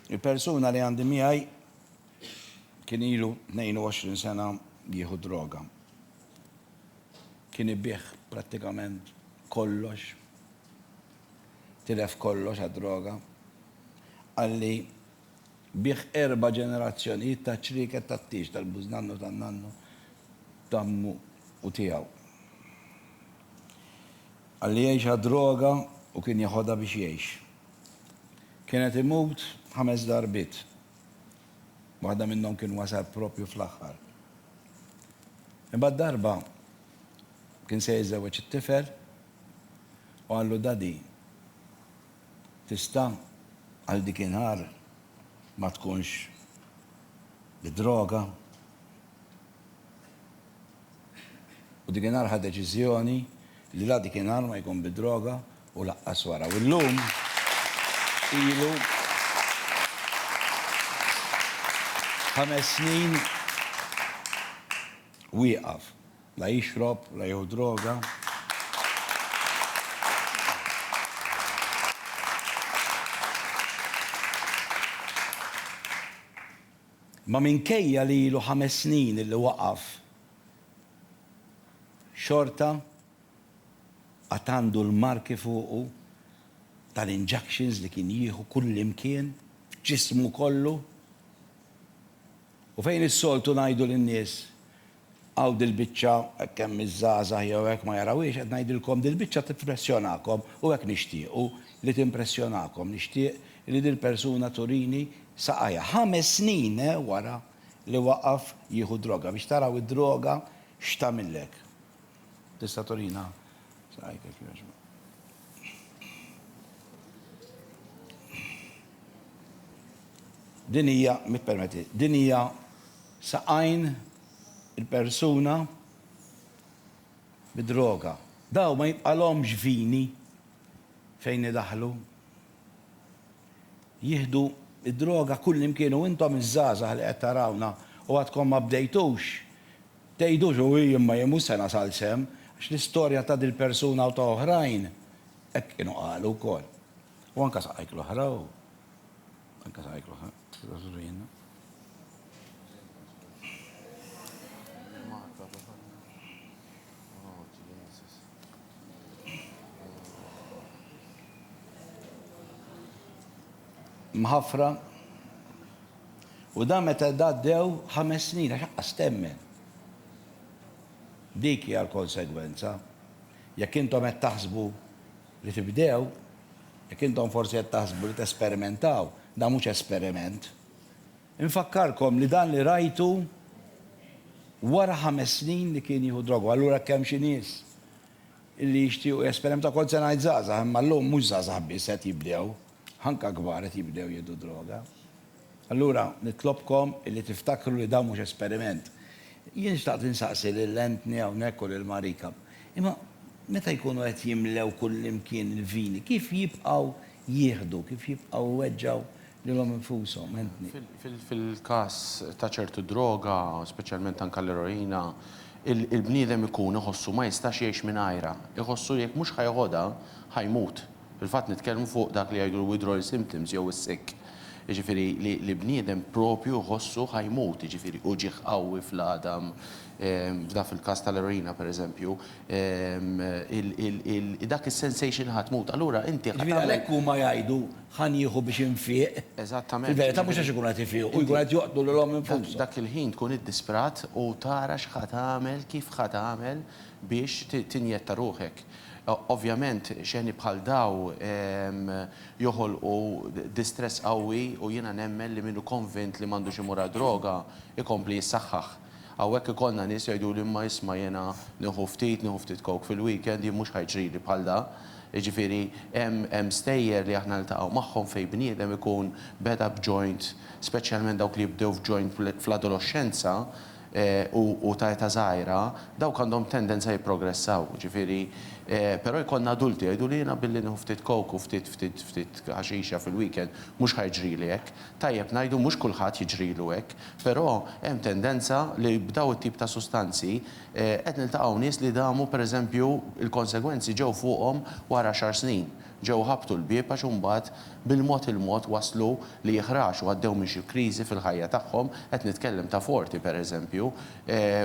Il-persuna li għandi miegħi kien ilu 22 sena jieħu droga. Kien ibih prattikament kollox. Tilef kollox għad-droga. Qalli bih erba' ġenerazzjonijiet ta' ċrieket tat-tieġ tal-bużnannu tan-nannu t'għammu u tiegħu. Qalli jgħix għad-droga u kien jeħodha biex jgħix. Kien qed imut ħames darbiet. Waħda minnhom kien wasal proprju fl-aħħar. Imbagħad darba kien se jiżżewweġ it-tifel u qallu, Daddy, tista' għal dik in-nhar ma tkunx bid-droga? U dikinhar ħa deċiżjoni li la dikinhar ma jkun bid-droga u laqqas wara. U llum ilu ħames snin wieqaf. La jixrob, la jieħu droga. Imma minkejja li ilu ħames snin illi waqaf, xorta għad għandu l-marki fuqu tal-injuctions li kien jieħu kullimkien, f'ġismu kollu. U fejn is-soltu ngħidu lin-nies Hawn dil-biċċa, hekk hemm iż-żgħażagħ jew hekk ma jarawhiex, qed ngħidilkom dil-biċċa tippressjonakom u hekk nixtiequ li timpressjonakom. Nixtieq li dil-persuna turini saqajha ħames snin wara li waqaf jieħu d-droga biex taraw id-droga x'tagħmillek. Tista' turina saqajk jekk jogħġbok? Din hija, mi ppermetti, din hija saqajn il-persuna bid-droga. Dawn ma jibqalhomx vini fejn idaħħlu. Jieħdu d-droga kullimkien u intom iż-żgħażagħ li qed tarawna u għadkom ma bdejtux, tgħidux u jien ma jien mhux se nasal s'hemm għax l-istorja ta' dil-persuna u ta' oħrajn hekk kienu qalu wkoll. U anke saqajk l-oħra u Anka sa jklu sa, sa sudu jenna. Mħafra. U da meta da dew ħames snin, għax stemmen. Dik hija l-konsegwenza. Jekk intom qed taħsbu Li tibdew, jekk intom forsi qed taħsbu li tesperimentaw, dan mhux esperiment. Infakkarkom li dan li rajtu wara ħames snin li kien jieħu droga u allura jekk hemm xi nies li jixtiequ jesperimentaw, kont se ngħid żgħażagħ imma llum mhux żgħażagħ biss qed jibdew, anke kbar qed jibdew jieħdu droga. Allura, nitlobkom li tiftakru li dan mhux esperiment. Jien xtaqt insaqsi lil Anthony hawnhekk u lil Marika, imma meta jkunu qed jimlew kullimkien il-vini, kif jibqgħu jieħdu, kif jibqgħu jweġġgħu lilhom infushom, Anthony? Fil-każ ta' ċertu droga, speċjalment anke l-eroina, il-bniedem ikun iħossu ma jistax jgħix mingħajrha. Iħossu li jekk mhux ħa jeħodha, ħa jmut. Fil-fatt nitkellmu fuq dak li jgħidu l-withdrawal symptoms jew is-sick. Jiġifieri li bniedem proprju jħossu ħa jmut, jiġifieri uġigħ qawwi fl-għadam, f'dak fil-każ tal-eroina pereżempju, dak is-sensation ħa tmut. Allura inti ħa tagħmel. Jiġifieri għalhekk huma jgħidu ħa nieħu biex infieq. Eżattament. Fil-verità mhux għax ikunu qed ifiqu, jkunu qed joqtlu lilhom infushom. Dak il-ħin tkun iddisprat u tara x'ħa tagħmel, kif ħa tagħmel. biex tinjetta ruħek. Ovvjament xeni bħal daw joħolqu distress qawwi u jiena nemmen li min hu konvint li m'għandux imur għad-droga jkompli jissaħħaħ. Hawnhekk ikollna nies jgħiduli imma isma' jiena nieħu ftit, nieħu ftit coke fil-weekend, jien mhux ħa jġrili bħal da. Jiġifieri hemm stejjer li aħna niltaqgħu magħhom fejn bniedem ikun beda b'joint, speċjalment dawk li jibdew f'joint fl-adoloxxenza, u ta' età żgħira, dawk għandhom tendenza jipprogressaw, jiġifieri, però jkollna adulti jgħidu li jiena billi nieħu ftit coke u ftit ftit ftit ħaxixa fil-weekend mhux ħa jiġrili hekk. Tajjeb ngħidu mhux kulħadd jiġrilu hekk, però hemm tendenza li b'dawn it-tip ta' sustanzi qed niltaqgħu nies li damu pereżempju l-konsegwenzi ġew fuqhom wara xar snin. Ġew ħabbtu l-bieb għax imbagħad bil-mod il-mod waslu li jħraxu, għaddew minn xi kriżi fil-ħajja tagħhom, qed nitkellem ta' Forti per eżempju,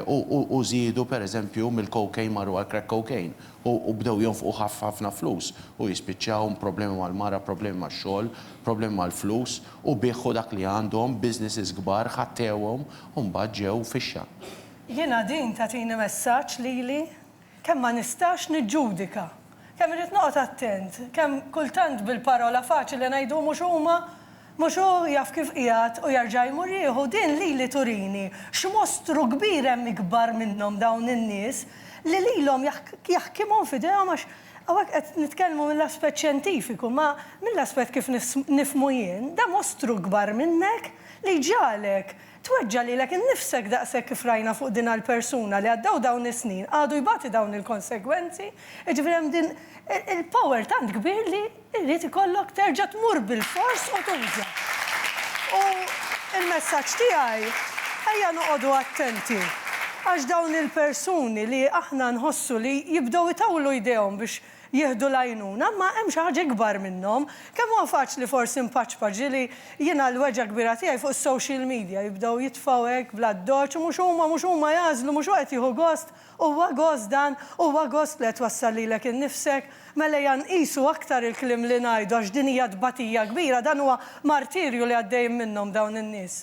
u żiedu per eżempju mill-cocaine marru għall-crack cocaine u bdew jonfqu ħafna flus u jispiċċaw b'problemi mal-mara, problemi max-xogħol, problemi mal-flus u biegħu dak li għandhom, businesses kbar, ħattewhom u mbagħad ġew fixxa. Jiena din tagħtini messaġġ lili Kemm ma nistax niġġudika. Kemm irrid noqgħod attent. Kemm kultant bil-parola faċili ngħidu mhux huma, mhux hu jaf kif qiegħed u jerġa' jmur jieħu. Din lili turini x'mostru kbir hemm ikbar minnhom dawn in-nies li lilhom jaħkimhom f'idejhom għax hawnhekk qed nitkellmu mill-aspett xjentifiku ma mill-aspett kif nifhmu jien da mostru kbar minnek li jġagħlek Tweġġa' lilek innifsek daqshekk kif rajna fuq din għall-persuna li għaddew dawn is-snin għadu jbati dawn il-konsegwenzi, jiġifieri hemm din il-power tant kbir li jrid ikollok terġa' tmur bilfors u tuża. U l-messaġġ tiegħi ejja noqogħdu attenti għax dawn il-persuni li aħna nħossu li jibdew itawlu jdejhom biex jieħdu l-għajnuna, imma hemm xi ħaġa ikbar minnhom. Kemm huwa faċli forsi npaċpaċ, ġieli jiena l-weġgħa kbira tiegħi fuq is-social media, jibdew jitfgħu hekk bl-addoċċ, mhux huma, mhux huma jagħżlu, mhux hu qed jieħu gost, huwa gost dan, huwa gost li qed twassal lilek innifsek. Mela ejja nqisu aktar il-kliem li ngħidu għax din hija tbatija kbira, dan huwa martirju li għaddejjin minnhom dawn in-nies.